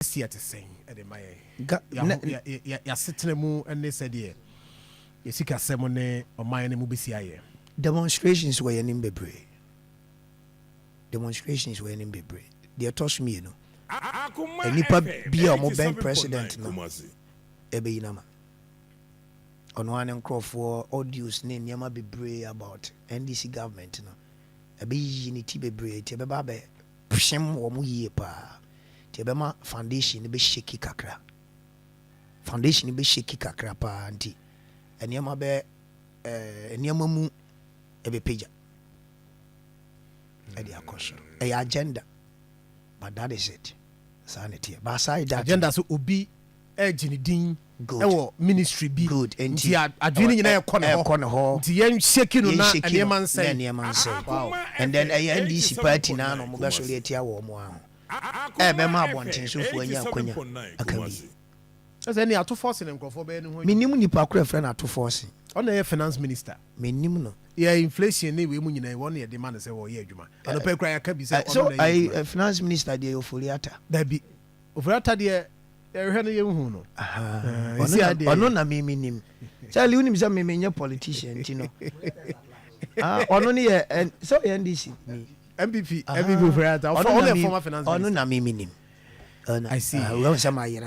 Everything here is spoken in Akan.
adanseɛ te sɛn de ma yɛn? Ga, Yɛn nɛ, aho- yɛ- yɛ- yɛ- Yɛasetena mu ne sɛdeɛ yɛ sikasɛm ne ɔman no mu bɛsi ayɛ. demonstrations wɔ yɛn anim bebree. Demonstrations wɔ yɛn anim bebree. Deɛ ɛtɔ so mmienu, Akoma nnipa FM bi a wɔbɛn 87.9 president no Kumasi. ɛbɛyi no ama. Ɔno ara ne nkurɔfoɔ audios ne nneɛma bebree about NDC government no. ɛbɛyiyi ne ti bebree nti ɛbɛba abɛhyem wɔn yie paa nti ɛbɛma foundation no bɛ shake kakra foundation no bɛ shake kakra paa nti nneɛma bɛ ɛɛ nneɛma mu ɛbɛpagya ɛde akɔ soro ɛyɛ agenda but that is it saa na ɛteɛ but aside that agenda so obi ɛregye ne din wɔ ministry bi nti adwene no nyinaa ɛrekɔ ne hɔ nti yɛn shake no na nneɛma nsɛe. And then ɛyɛ NDC party no ara na wɔn bɛsɔre atia wɔn mo ara ho ɛrebɛma abɔntensofoɔ anya akwanya aka bi. Ɛsɛ ɛne ato force ne nkurɔfoɔ bɛyɛ ne ho adwuma. Mennim nipa koro ɛfrɛ no ato force. Ɔna ɛyɛ finance minister. Mennim no. Yɛ inflation ne wei mu nyina yi wɔn na yɛde ma no sɛ wɔyɛ adwuma. Anɔpa yi koraa yɛaka bi sɛ ɔno na ɛyɛ adwuma. So ayi finance minister deɛ yɛ Ofori-Atta? Dabi. Ofura ta deɛ yɛhwehwɛ no yɛnhu no. Ɔno na me menim. Charlie wonim sɛ me menyɛ politician nti no. Ɔno ne yɛ sɛ ɔyɛ NDC ni. MPP MPP ofura ta. Ɔno na me menim. I see. Wɔn sɛ mayera.